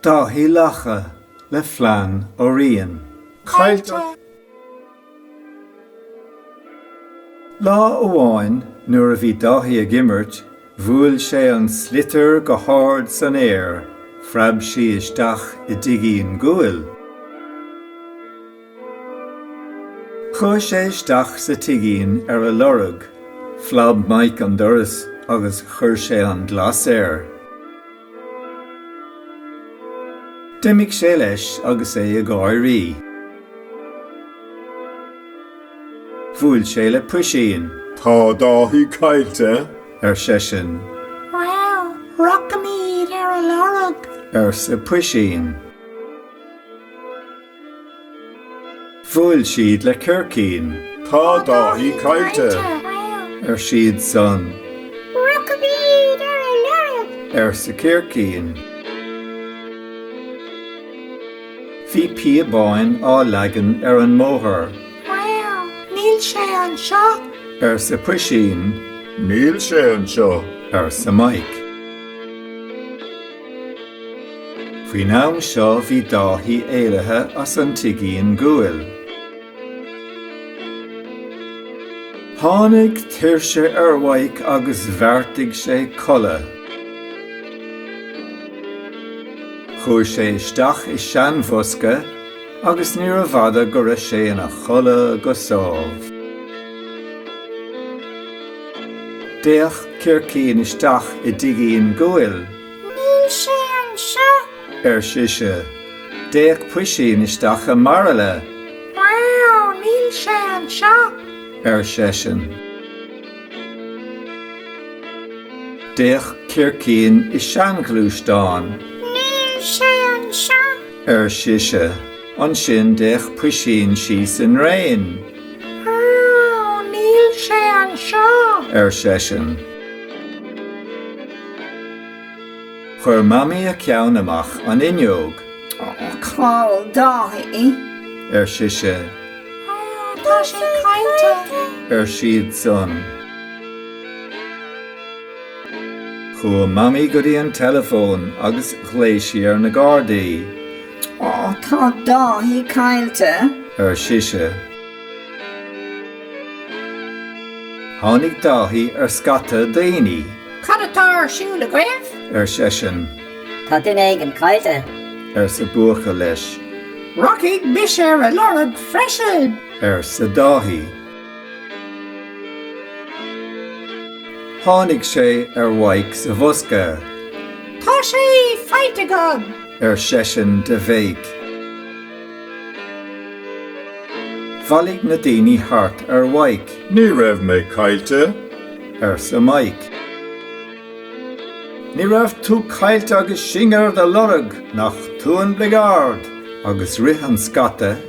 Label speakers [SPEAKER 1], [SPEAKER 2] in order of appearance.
[SPEAKER 1] Dáithí Lacha le Flann Ó Riain. Caillte! Lá amháin nuair a bhí Dáithí ag imirt, bhuail sé an sliotar go hard san aer, phreab sí isteach i dtigín guail. Chuaigh sé isteach sa tigín ar a lorg, phlab Maidhc an doras agus chuir sé an glas air. D'imigh sé leis agus é ag gáirí. Bhuail sé le Puisín. Tá Dáithí caillte, ar seisean. Bhuel, rachaimíd ar a lorg, arsa Puisín. Bhuail siad le Circín. Tá Dáithí caillte, ar siadsan. Rachaimíd ar a lorg. arsa Circín. Bhí píobáin á leagan ar an mbóthar. Bhuel, níl sé anseo. arsa Puisín. Níl sé anseo. arsa Maidhc. Faoin am seo bhí Dáithí éirithe as an tigín guail. Tháinig tuirse ar Mhaidhc agus bheartaigh sé codladh. Chuaigh sé isteach i seanbhosca agus níorbh fhada go raibh sé ina chodladh go sámh. D'fhéach Circín isteach i dtigín guail. Níl sé anseo! ar sise. D'fhéach Puisín isteach i mbairille. Wow! Níl sé anseo! ar seisean. D'fhéach Circín i seanghluaisteán. Níl sé anseo! ar sise. Ansin d'fhéach Puisín síos i ndraein. Ó, níl sé anseo! ar seisean. Chuir Mamaí a ceann amach an fhuinneog. Ó, cá bhfuil Dáithí! ar sise. Ó, tá sé caillte! ar siadsan. Chuaigh Mamaí go dtí an teileafón agus ghlaoigh sí ar na Gardaí. Ó, tá Dáithí caillte. ar sise. Tháinig Dáithí ar scata daoine. Cad atá ar siúl agaibh? ar seisean. Tá duine éigin caillte. arsa buachaill leis. Rachaidh mise ar a lorg freisin. arsa Dáithí. Tháinig sé ar Mhaidhc sa bhosca. Tá sé faighte agam! ar seisean de bhéic. Bhailigh na daoine thart ar Mhaidhc. Ní raibh mé caillte! arsa Maidhc. Ní raibh tú caillte agus sinn ar do lorg, nach tú an bligeard! Agus rith an scata